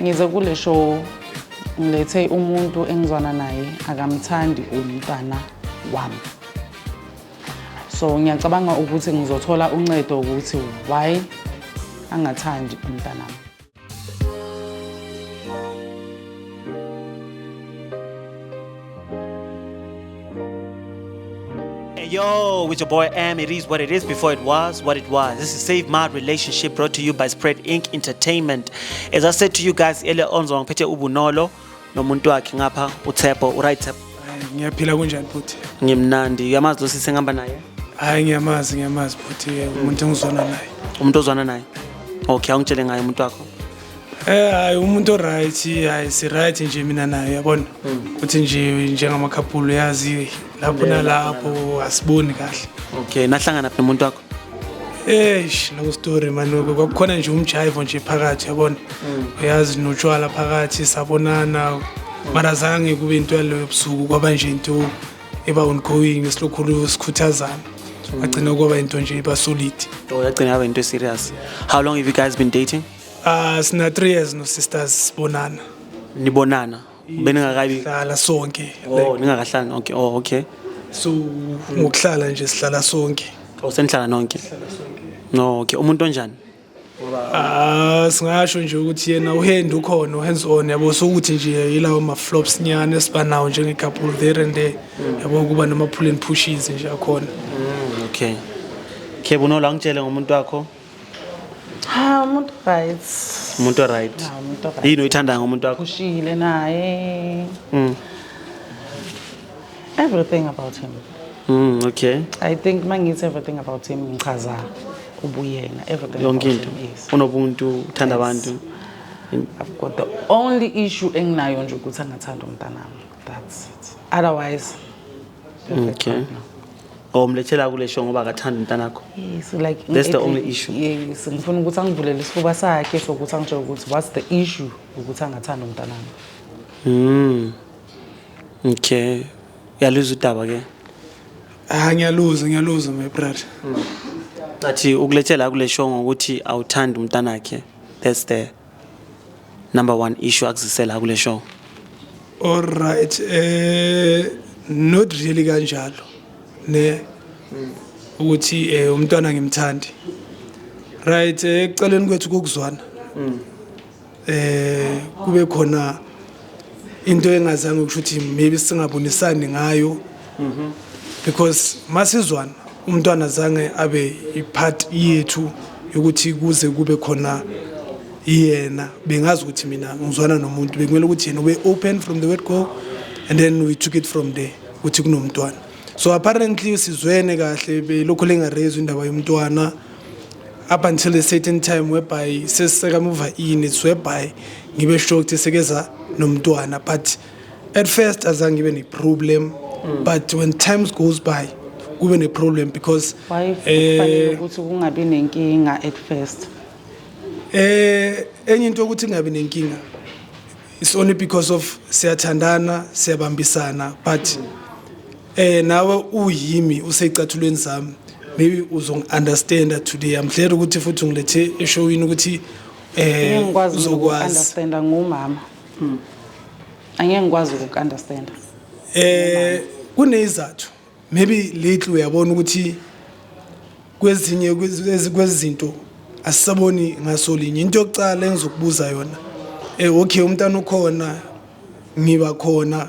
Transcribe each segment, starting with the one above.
Ngize kule show ngilethe umuntu engizwana naye akamthandi umntwana wami. So ngiyacabanga ukuthi ngizothola uncedo ukuthi why angathandi umntana wami. Hey yo, with your boy M, it is what it is before it was what it was. This is Save My Relationship brought to you by Spread Inc. Entertainment. As I said to you guys earlier on, ngiphethe ubunolo nomuntu wakhe ngapha uThebo, uright Thebo? ngiyaphila kunjani futhi Ngimnandi, uyamazi lo sisi engihamba naye? hayi ngiyamazi ngiyamazi futhi umuntu engizwana naye Umuntu ozwana naye? Okay, awungitshele ngaye umuntu wakho. Eh hayi umuntu oright hayi si right nje mina naye yabona hmm. uthi nje njengama couple yazi lapho nalapho asiboni kahle okay nahlangana phi umuntu wakho eish long story manoke kwakukhona nje umjaivo nje phakathi yabona hmm. uyazi notshwala phakathi sabonana mara zange kube into yaloyo ebusuku kwaba nje into eba ongoing esilokhulu sikhuthazana hmm. agcina kwaba into nje iba solid oh yagcina yaba into serious how long have you guys been dating Ah sina 3 years no sisters sibonana. Nibonana. Beningakabi hlala sonke. Oh ningakahlala nonke. Oh okay. So ngokuhlala nje sihlala sonke. Oh senihlala nonke. No okay umuntu onjani? Ah singasho nje ukuthi yena uhand ukhona uhands on yabo so ukuthi nje yilawo ma flops nyane sibanawo njenge couple there and there mm. yabo kuba nama pull and pushes nje akhona. Mm, okay. Khebo no la ngitshele ngomuntu wakho. Ha umuntu right. Umuntu right. Ha umuntu right. Yini uyithanda ngomuntu wakho? Ushile naye. Mm. Everything about him. Mm, okay. I think mangithi everything about him ngichaza ubuyena everything yonke into unobuntu uthanda abantu I've got the only issue enginayo nje ukuthi angathanda umntanami that's it otherwise okay or oh, mlethela kule show ngoba akathanda umntanakho yes like that's the only issue yes ngifuna ukuthi angivulele isifuba sakhe sokuthi angitshele ukuthi what's the issue ukuthi angathanda umntanami mm okay yaluza udaba ke ah ngiyaluza ngiyaluza my brother ngathi ukulethela kule show ngokuthi awuthanda umntanakhe that's the number one issue akuzisela kule show alright eh not really kanjalo ne ukuthi eh umntwana ngimthandi right eh, eceleni kwethu kokuzwana eh kube khona into engazange ukusho ukuthi maybe singabonisani ngayo mhm. because masizwana umntwana zange abe ipart yethu yokuthi kuze kube khona yena bengazi ukuthi mina ngizwana nomuntu bekumele ukuthi yena ube open from the word go and then we took it from there ukuthi kunomntwana so apparently sizwene kahle belokhu lengarezwa indaba yomntwana up until a certain time whereby sesisekamuva in it's whereby ngibe sure ukuthi sekeza nomntwana but at first azange ngibe ne-problem mm. but when times goes by kube ne-problem because eh, ukuthi kungabi nenkinga at first eh enye into ukuthi kungabi nenkinga it's only because of siyathandana siyabambisana but mm. Eh nawe uyimi usecathulweni sami maybe uzongi-understanda today i'm glad ukuthi futhi ungilethe eshowini ukuthi eh ngikwazi uzokwazi uku-understanda ngumama hmm. angeke ngikwazi uku-understanda eh kunezathu maybe lately uyabona ukuthi kwezinye kwezinto asisaboni ngaso linye into yokucala engizokubuza yona eh okay umntana ukhona ngiba khona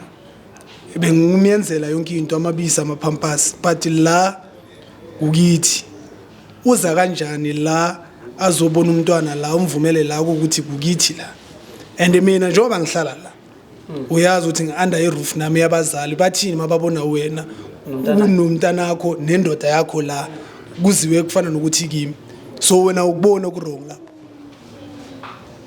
bengimyenzela yonke into amabisi amaphampasi but la kukithi uza kanjani la azobona umntwana la umvumele la ukuthi kukithi la and mina njengoba ngihlala la hmm. uyazi ukuthi ngi-under i-roof nami yabazali bathini mababona wena unomntanakho nendoda yakho la kuziwe kufana nokuthi kimi so wena ukubona okurong lapho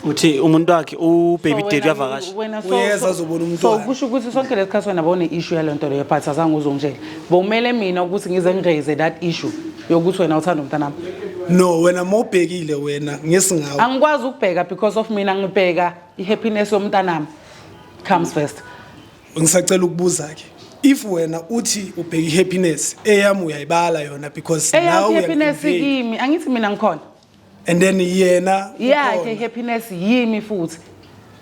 uthi umuntu wakhe ubaby daddy uyavakasha wena so- Uyeza so- azobona so umntwana. kusho ukuthi sonke lesikhathi wena bone issue yale nto leyo but azange uzongitshela bowumele mina ukuthi ngize ngiraise that issue yokuthi wena uthanda umntanami no wena uma ubhekile wena ngesingawo angikwazi ukubheka because of mina ngibheka i-happiness yomntanami comes first ngisacela ukubuza-ke if wena uthi ubheka i-happiness eyami uyayibala yona because nawe eyaphi happiness uyayiconvey. kimi angithi mina ngikhona and then yena yakhe ukhona. happiness yimi futhi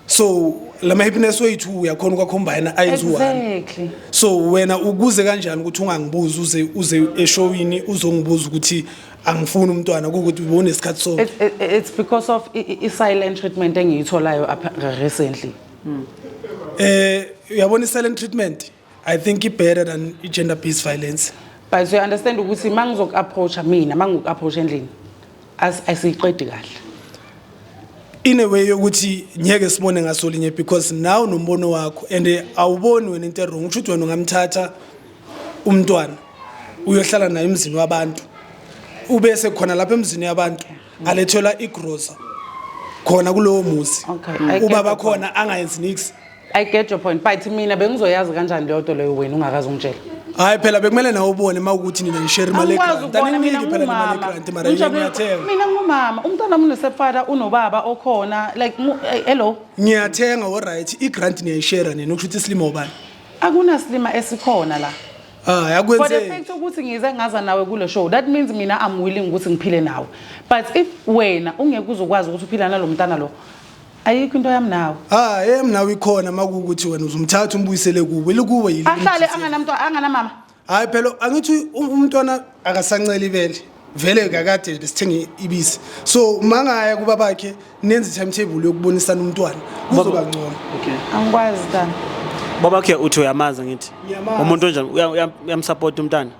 so lama happiness wethu uyakhona ukwacombine ayenze one exactly so wena ukuze kanjani ukuthi ungangibuzi uze uze eshowini uzongibuza ukuthi angifuni umntwana kukuthi ubonesikhathi so It- it- it's because of i- i- i-silent treatment engiyitholayo apha- recently eh uyabona i silent treatment I think it better than gender based violence. But so you understand ukuthi mangizoku approacha mina mangiku approach endlini as asiqedi kahle. In a way yokuthi ngeke sibone ngasolinye because now nombono wakho and eh, awuboni wena into wrong ukuthi wena ungamthatha umntwana uyohlala naye emzini wabantu ube sekhona lapha emzini yabantu alethelwa igrosa khona kulowo muzi Okay, I get ubaba the point. khona angayenzi nix I get your point but mina bengizoyazi kanjani leyo nto leyo wena ungakazi ungitshela hayi phela bekumele nawe ubone uma ukuthi nina nishare imali Angikwazi egrant ukubona mina aninginiki phela nemali ngumama. egrant mara yini Ngijabule- ngiyathenga mina ngumama umntwana wami unesepfata unobaba okhona like mu- eh, hello ngiyathenga oright igrant niyayishare nina okusho ukuthi isilima ubani akunasilima esikhona la hayi for the akwenzeki fact ukuthi ngize ngaza nawe kule show that means mina i'm willing ukuthi ngiphile nawe but if wena ungeke uzokwazi ukuthi uphila nalo mntana lo ayikho into yami nawe ah eyami nawe ikhona makukuthi wena uzumthatha umbuyisele kuwe likuwe yini ahlale anganamntu anganamama hayi phela angithi um, umntwana akasancela ibele vele kakade besithenge ibisi so mangaya kuba bakhe nenze timetable yokubonisana umntwana kuzoba ngcono okay angikwazi tana babakhe uthi uyamazi ngithi umuntu onjani uyamsupport umntana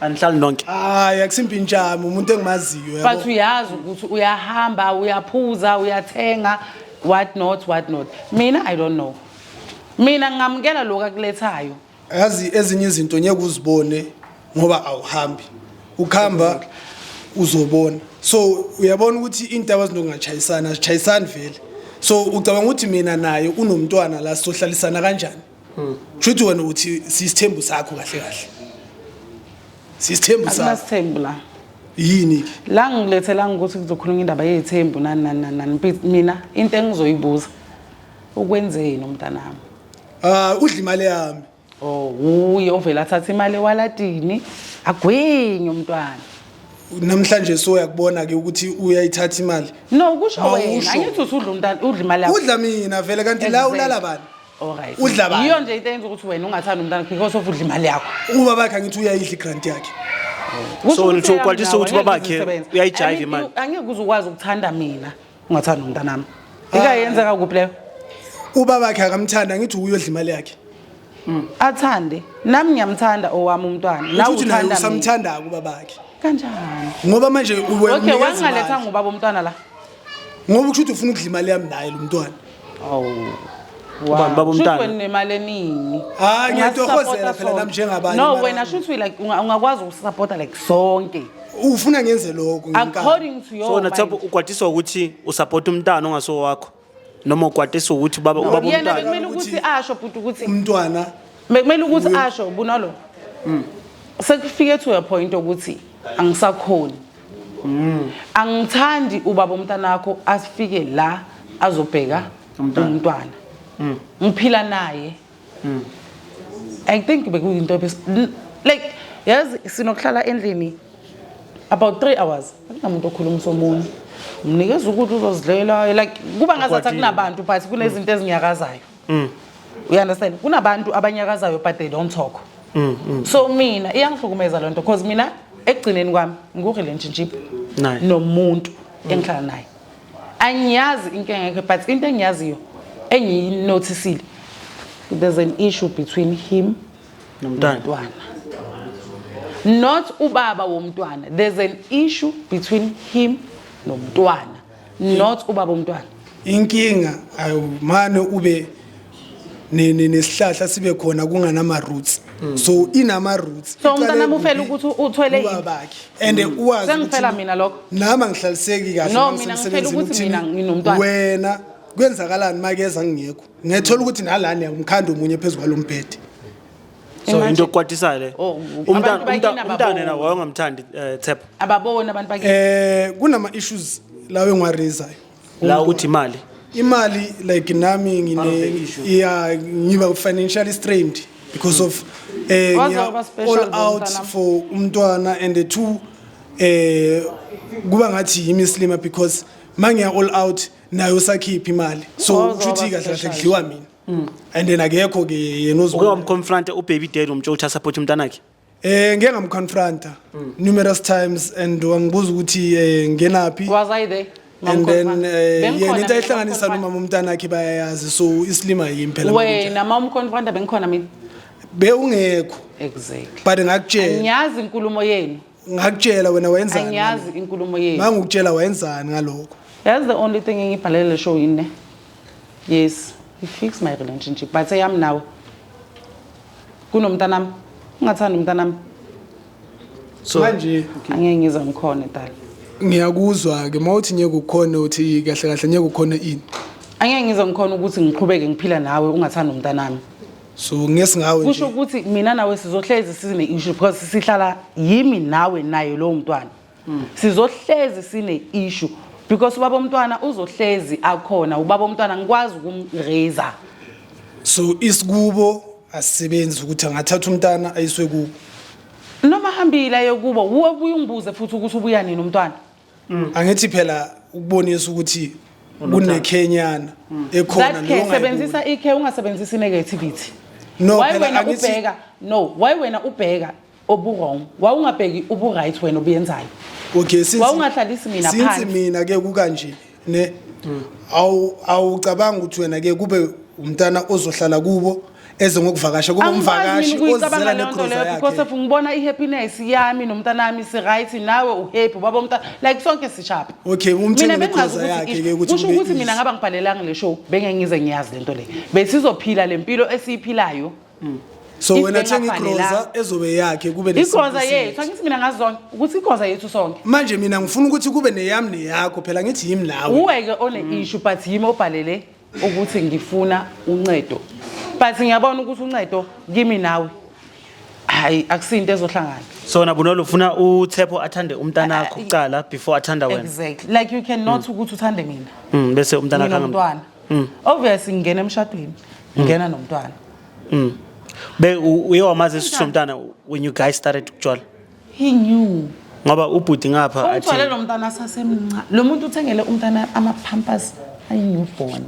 anihlali nonke hayi akusimpintshami umuntu engimaziyo yabo. but uyazi ukuthi uyahamba uyaphuza uyathenga what not what not mina i don't know mina ngingamukela lokhu akulethayo yazi ezinye izinto ngeke uzibone ngoba awuhambi ukhamba uzobona so uyabona ukuthi intaba zinokungachayisana zichayisani vele so ucabanga ukuthi mina naye unomntwana la sohlalisana kanjani hmm. shuthi wena uthi sisithembu sakho kahle kahle sisithembu sakho akunasithembu la yini la ngilethela ngokuthi kuzokhuluma indaba yezithembu nani nani nani mina into engizoyibuza ukwenzeni umntanami ah udla imali yami oh uye ovela athatha imali ewaladini agwinye umntwana namhlanje soya kubona ke ukuthi uyayithatha imali no kusho wena angithi usudla umntana udla imali yakho udla mina vele kanti la ulala bani Alright. Udla bani? Yiyo nje into eyenza ukuthi wena ungathandi umntana because of udla imali yakho. Uba bakhe angithi uyayidla igrant yakhe. Kusho So, ukuthi nitho- yami kwalisa nawe ukuthi angeke babakhe uzisebenze. uyayijayiva I mean, imali. Angeke uze ukwazi ukuthanda mina ungathandi umntanami. Ikayenzeka kuphi leyo? Uba bakhe akamthanda angithi uyodla imali yakhe. Athande. Nami ngiyamthanda owami umntwana. Nawe Nawe uthi naye uthanda mina. usamthanda uba bakhe. Kanjani? Ngoba manje uwe Okay, umnikeza wangaletha imali. ngubaba umntwana la. Ngoba ukusho ukuthi ufuna ukudla imali yami naye lo mntwana. Awu. Ubani baba Shuthi umntana? wena unemali eningi. Hhayi, ngiyatohozela Ungasisapota phela sonke. nami njengabanye No, abantu. wena shuthi we like unga- ungakwazi ukusapota like sonke. ufuna ngenze lokho ngenkani. According to your So wena Themba mind. ugwadiswa ukuthi usapota umntana ongaso wakho noma ugwadiswa ukuthi baba ubaba Yena umntana. bekumele ukuthi Ukuthi- asho bhuti ukuthi umntwana bekumele ukuthi asho bunalo. Sekufike to a point ukuthi angisakhoni. angithandi ubaba umntanakho asifike la azobheka Umntwana. umntwana Mm. ngiphila naye Mm. i think bekuyinto ebes- l- like yazi sinokuhlala endlini about three hours akunamuntu okhulumisa omunye mnikeza ukuthi uzozidlela like kuba ngazathi Ukwatile. akunabantu but kunezinto ezinyakazayo mm. you understand kunabantu abanyakazayo but they don't talk mm, mm. so mina iyangihlukumeza lento because mina ekugcineni kwami ngiku relationship nice. nomuntu mm. engihlala naye angiyazi inkinga yakhe but into engiyaziyo engiyinotisile there's an issue between him nomntwana not ubaba womntwana there's an issue between him nomntwana not ubaba umntwana inkinga ayumane ube nesihlahla sibe khona kunganama roots mm. so inama roots so umntana mufela ukuthi uthwele yini babakhe and mm. uwazi sengiphela mina lokho nami angihlaliseki kahle no mina ngiphela ukuthi mina nginomntwana wena kwenzakalani makeza ngingekho ngethola ukuthi nalana umkhanda omunye phezulu kwalombhede so into okukwatisayo le oh, umntana umntana yena wayengamthandi eh, thepha ababona abantu bakini eh kunama issues lawo engwarizayo la ukuthi imali imali like nami ngine yeah ngiba financially strained because of eh all out for umntwana and the two eh kuba ngathi yimislima because mangiya all out nayo sakhipha imali so uthi kahle kahle kudliwa mina Mm. and then akekho ke yena uke uzibona wamconfronta ubaby dad womtsho ukuthi asapothe umntanakhe eh ngeke ngamconfronta Mm. numerous times and wangibuza ukuthi eh ngenaphi Was I there? and then Mamkhonfana. eh, Bengikhona yena into mina, ayihlanganisa Mamkhonfana. nomama umntanakhe bayayazi so isilima yimi phela Wena mama umkhonfranta bengikhona mina. bewungekho Exactly. but ngakutshela Ngiyazi inkulumo yenu. ngakutshela wena wayenzani angiyazi inkulumo yethu mangikutshela wayenzani ngalokho yazi the only thing engibhalele le show yini ne yes he fix my relationship but eyami nawe kunomntanami ungathanda umntanami so manje angeke ngize ngikhone dala ngiyakuzwa ke mawuthi ngeke ukhona uthi kahle kahle ngeke ukhona ini angeke ngize ngikhona ukuthi ngiqhubeke ngiphila nawe ungathanda umntanami so ngesi ngawe kusho ukuthi mina nawe sizohlezi sine issue because sihlala yimi nawe naye lowo mntwana hmm. sizohlezi sine issue because ubaba omntwana uzohlezi akhona ubaba omntwana ngikwazi ukumraise so isikubo asisebenzi ukuthi angathatha umntana ayiswe kubo noma hambile aye kubo ubuye ungibuze futhi ukuthi ubuya nini umntwana Mm. angithi phela ukubonisa ukuthi kunekhenyana mm. ekhona that care sebenzisa ikhe ungasebenzisi negativity no why wena ubheka no why wena ubheka obuwrong wawungabheki uburight wena obuyenzayo okay since wawungahlalisi mina phansi since mina ke kukanje ne awu awucabanga ukuthi wena ke kube umntana ozohlala kubo eze ngokuvakasha kube umvakashi ozela kuyicabanga leyo nto negroza leyo because yakhe of ngibona i-happiness yami nomntanami si-right nawe uhappy ubaba umntana like sonke sishapha okay mina umthenge bengazi negroza yakhe ke ukuthi ukuthi kusho kube ukuthi mina easy. ngaba ngibhalelanga le show bengeke ngize ngiyazi lento le besizophila lempilo esiyiphila mm. so wena thenga igroza ezobe yakhe kube igroza yethu angithi mina ngazona ukuthi igroza yethu sonke manje mina ngifuna ukuthi kube neyami neyakho phela ngithi yimi nawe uweke one mm. issue but yimi obhalele ukuthi ngifuna uncedo but ngiyabona ukuthi uncedo kimi nawe hayi akusinto ezohlangana so nabunolo ufuna uthepho athande umntanakho ah, kuqala before athanda wena exactly like you cannot mm. ukuthi uthande mina mm, bese umntanakho ngimntwana mm. obviously ngingena emshadweni mm. ngena nomntwana mm. be uye wamazi isithu somntana when you guys started ukutshwala he knew ngoba ubhuti ngapha athi umthwale lo mntana sasemncane lo muntu uthengele umntana ama pampers ayi newborn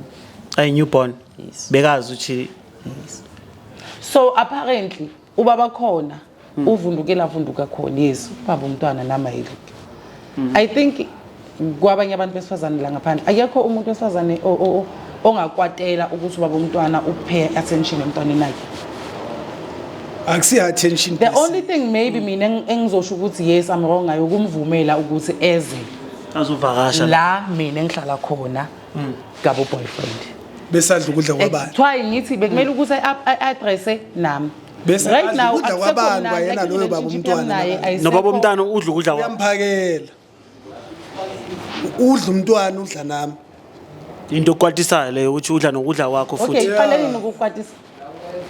ayi newborn yes bekazi uthi yes so apparently ubaba khona hmm. uvundukela avunduka khona yes ubaba umntwana nama yile hmm. i think kwabanye abantu besifazane la ngaphandle akekho umuntu wesifazane ongakwatela ukuthi ubaba umntwana uphe attention emntwaneni wakhe akusiyo attention the only thing maybe mina engizosho ukuthi yes i'm wrong ngayo ukumvumela ukuthi eze azovakasha la mina engihlala khona mm. gabo boyfriend besadla ukudla kwabani kuthiwa ngithi bekumele mm. ukuthi i-addresse nami bese right now ukudla kwabani kwayena loyo baba umntwana nobaba umntana udla ukudla kwami uyamphakela udla umntwana udla nami into okwatisayo leyo ukuthi udla nokudla kwakho futhi okay fanele nokukwatisa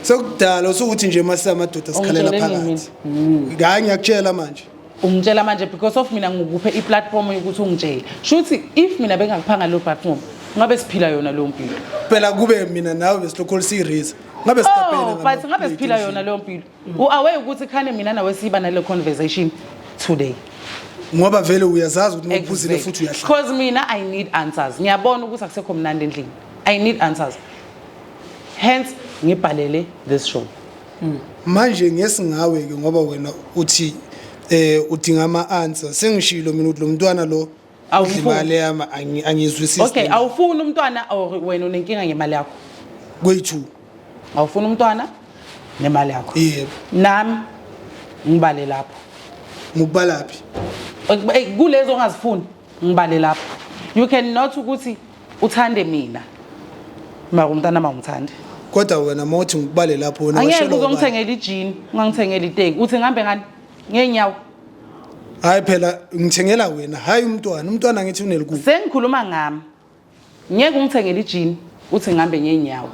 sekudala usukuthi nje masamadoda sikhalela Ungitshele nini phakathi Mm. ngayi ngiyakutshela manje ungitshela manje because of mina ngikuphe iplatform yokuthi ungitshele shuthi if mina bengakuphanga leyo platform ngabe siphila yona leyo mpilo phela kube mina nawe besilokhu siyirisa ngabe sitapele oh but ngabe siphila yona leyo mpilo u-away ukuthi khane mina nawe siba nale conversation today ngoba vele uyazazi ukuthi uma uphuzile futhi uyahlala because mina i need answers ngiyabona ukuthi akusekho mnandi endlini i need answers hence ngibhalele this show mm. manje ngesingawe ke ngoba wena uthi eh udinga ama answer sengishilo mina ukuthi lo mntwana lo awufuni yami angizwisisi okay awufuni umntwana or wena unenkinga ngemali yakho kwethu awufuni umntwana nemali yakho yebo nami ngibale lapho ngikubala phi kulezo ongazifuni ngibale lapho you can not ukuthi uthande mina mara umntanami awumthandi kodwa wena uma uthi ngikubale lapho wena angeke washelwa uke ubani? ungithengele ijini ungangithengele iteki uthi ngihambe ngani ngeenyawo hayi phela ngithengela wena hayi umntwana umntwana ngithi unelikubi sengikhuluma ngami ngeke ungithengele ijini uthi ngihambe ngeenyawo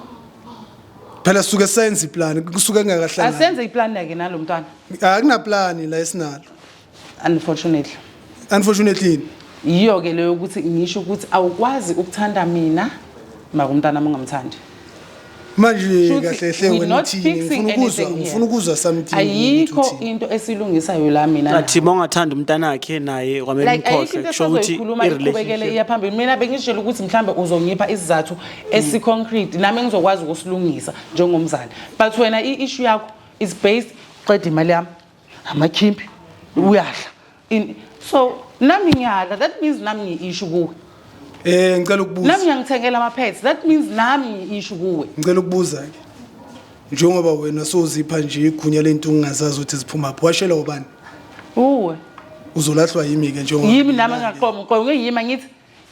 phela suke senze iplani kusuke kungakahlangani asenze iplani yake nalo mntwana akunaplani la esinalo unfortunately unfortunately yini yiyo ke leyo ukuthi ngisho ukuthi awukwazi ukuthanda mina maka umntana wami ungamthandi manje Shuthi, kahle hle we're wena not uthini fixing ngifuna ukuzwa anything here. ngifuna ukuzwa something ayikho ukuthi uthini. into esilungisayo la mina nawe. athi mongathanda umntana wakhe naye kwamele like ayikho umkhohlwe into kusho ukuthi esazoyikhuluma iqhubekele i-relationship iya phambili mina bengishela ukuthi mhlawumbe uzongipha isizathu esiconcrete nami ngizokwazi ukusilungisa njengomzali but wena i-issue yakho is based uqeda imali yami amakhimpi uyadla In- so nami ngiyadla that means nami ngiyi-ishu kuwe Eh ngicela nami ukubuza. ngiyangithengela ama-pets that means nami ngiyi-ishu kuwe Ngicela ukubuza ke. Njengoba wena sozipha nje igunya lento ungazazi ukuthi ziphuma phi. Washela ubani? uwe Uzolahlwa yimi ke njengoba. yimi nami engaqoma uqoma ngiyima ngithi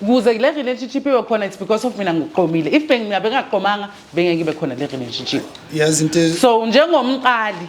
kuze le relationship ibe khona it's because of mina ngiqomile if bengina bengaqomanga bengeke ibe khona le relationship Yazi into e- so njengomqali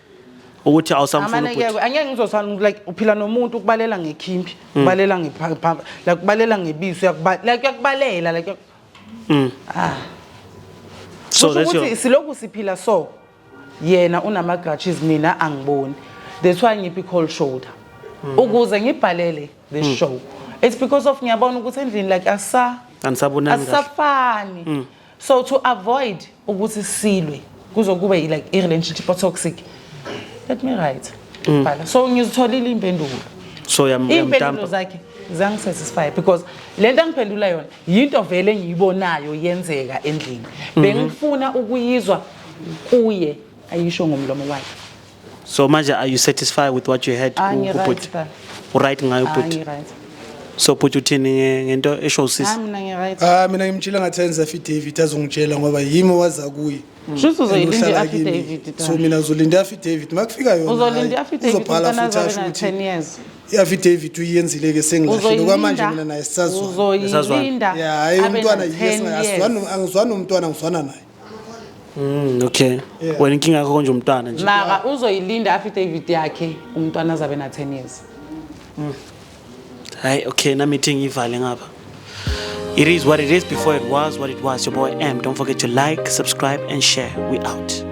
ukuthi awusamfuni amane ubhuti kekwe angeke ngizosana like uphila nomuntu ukubalela ngekhimbi Hmm. ubalela ngepha like ubalela ngebiso uyakuba like uyakubalela like Mm. ah so kusho that's your ukuthi siloku siphila so yena unama grudges mina angiboni that's why ngiphi cold shoulder Hmm. ukuze ngibhalele this show it's because of ngiyabona ukuthi endlini like asa anisabonani kahle asisafani so to avoid ukuthi silwe kuzokuba like i-relationship otoxic let me write mm. bhala so ngizitholile impendulo so iy'mpendulo zakhe zangisatisfy because le nto angiphendula yona yinto vele engiyibonayo yenzeka endlini mhm. bengifuna ukuyizwa kuye ayisho ngomlomo wakhe so manje are you satisfied with what you had ku- Angi right kubhuti ba. uright ngayo Angi bhuti right. so bhuti uthini nge- ngento esho Ah usisi mina ngi right. Ah mina ngimtshela ngathi enza affidavit azongitshela ngoba yimi owaza kuye. Shuthi uzoyilinda And uhlala kimi. i-affidavit. So mina uzolinda affidavit makufika yona. Uzolinda hayi, i-affidavit uzobhala umntana futhi asho azabe na ukuthi 10 years. i-affidavit uyenzile ke sengilahlile okwamanje mina naye sisazwana. Uzoyilinda. Yeah, hayi abe umntwana na yes 10 years. asizwani angizwani nomntwana ngizwana naye. Mm, okay. Wena inkinga yakho konje umntwana nje. maka uzoyilinda affidavit yakhe umntwana azabe na 10 years Hayi okay nami ithi ngivale ngapha. It is what it is before it was what it was. Your boy M. Don't forget to like, subscribe and share. We out.